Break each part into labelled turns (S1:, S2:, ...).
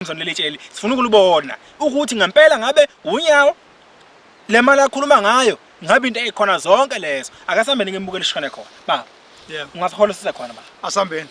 S1: Samson leli tsheli sifuna ukulibona ukuthi ngempela ngabe unyawo le mali akhuluma ngayo ngabe into ekhona zonke lezo akasambeni ngembukele ishone khona baba yeah ungasikhola
S2: sise khona baba
S1: asambeni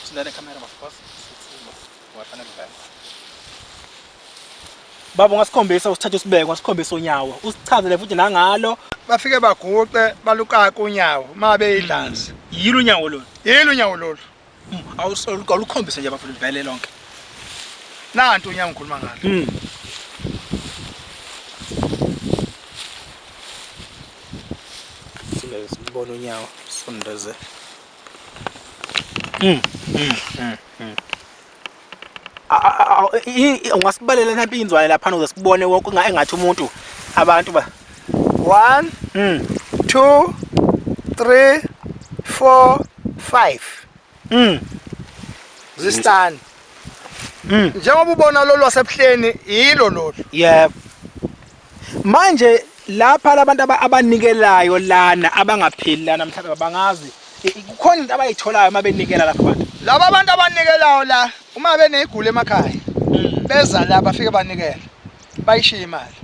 S1: sinale camera bafos baba ungasikhombisa usithathe usibeke wasikhombisa unyawo usichazele futhi nangalo bafike baguqe
S2: balukaka unyawo uma beyidlanzi hmm. yilo unyawo lolu
S1: yilo unyawo
S2: lolu hmm.
S1: awulukhombise nje bafuna livele lonke
S2: nanti unyawo ngikhuluma ngalo
S1: hmm. sibone unyawo sondeze Mm, mm, mm, mm. A- a- a- a- i- i- Ungasibalela nampi inzwane lapha uze sibone wonke nga- engathi umuntu abantu ba.
S2: One, Mm, two, three, four, five. mm, Zistani. mm. Njengoba ubona lolu wasebuhleni yilo lolu. Yebo.
S1: Manje lapha labantu abanikelayo lana abangapheli lana mhlawumbe bangazi kukhona into abayitholayo uma benikela lapha abantu. Laba abantu abanikelayo
S2: la uma benezigulo emakhaya hmm. beza la bafike banikela bayishiya imali.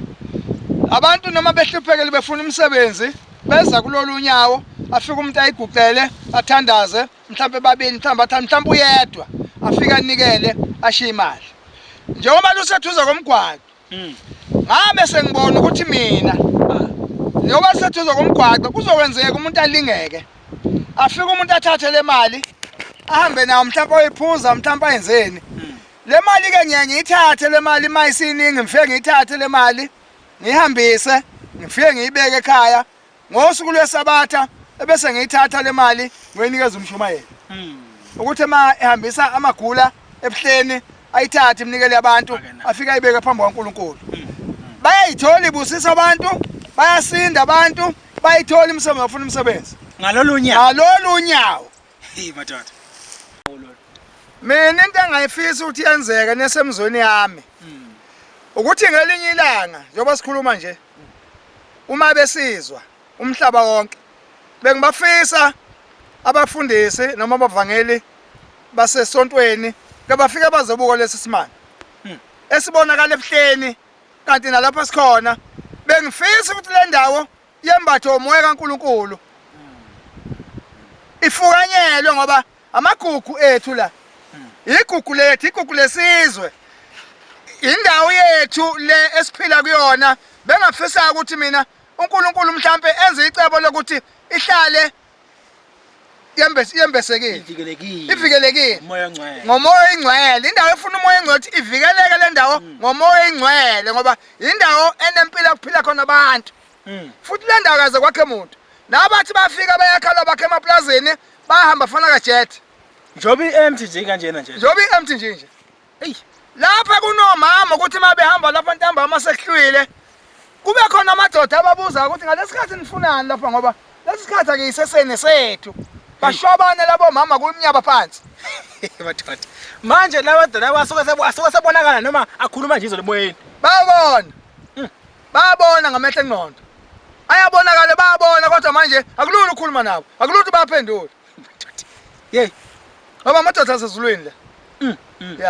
S2: Abantu noma behluphekele befuna umsebenzi beza kulolu nyawo afike umuntu ayiguqele athandaze mhlawumbe babili mhlawumbe athathe mhlawumbe uyedwa afike anikele ashiye imali. Njengoba lusethuza komgwaqo Mm. Ngabe sengibona ukuthi mina njengoba siseduze komgwaqo kuzokwenzeka umuntu alingeke afike umuntu athathe le mali ahambe nawo mhlawumpe oyiphuza mhlawumpe ayenzeni hmm. le mali-ke ngiye ngiyithathe le mali uma isiningi ngifike ngiyithathe le mali ngiyihambise ngifike ngiyibeke ekhaya Ngosuku lwesabatha ebese ngiyithatha le mali ngoyinikeza umshumayeli hmm. ukuthi uma ehambisa amagula ebuhleni ayithathe imnikele abantu afike ayibeke phambi kwaNkulunkulu hmm. bayayithola ibusisa abantu bayasinda abantu bayithola imisebenzi bafuna umsebenzi ngalolu nyawo
S1: ngalolu nyawo
S2: hey madoda
S1: mina
S2: into engayifisa ukuthi yenzeke nesemzweni yami hmm. ukuthi ngelinye ilanga njengoba sikhuluma nje uma besizwa umhlaba wonke. Bengibafisa abafundisi noma abavangeli basesontweni kebafike bazobuka lesi simanga hmm. esibonakala ebuhleni kanti nalapho sikhona bengifisa ukuthi le ndawo yembathe umoya kaNkulunkulu hmm. ifukanyelwe ngoba Amagugu ethu la. Igugu lethu, igugu lesizwe. Indawo yethu le esiphila kuyona bengafisa ukuthi mina uNkulunkulu mhlambe enze icebo lokuthi ihlale yembese yembesekile ivikelekile ivikelekile umoya ongcwele ngomoya oyingcwele indawo efuna umoya ongcwele ukuthi ivikeleke le ndawo mm. ngomoya oyingcwele ngoba indawo enempilo kuphila khona abantu mm. futhi kule ndawo kaze kwakhe muntu nabo bathi bafika bayakhala bakhe emaplazini bahamba fana kajet njengoba i-empty
S1: nje kanjena nje njengoba i-empty nje nje
S2: eyi lapha kunomama ukuthi uma behamba lapha ntambama sekuhlwile kube khona amadoda ababuza ukuthi ngalesi khathi nifunani lapha ngoba lesi sikhathi akuyiseseni sethu bashwabane labo mama kumnyaba phansi
S1: madoda manje lawa doda asuke sebonakala noma akhuluma nje izolo emoyeni babona
S2: Bayabona ngamehlo engqondo. Ayabonakala bayabona kodwa manje akulula ukukhuluma nabo. Akulula ukuthi baphendule. Yey.
S1: Ngoba amadoda
S2: asezulwini la. Mm, mm. Yeah.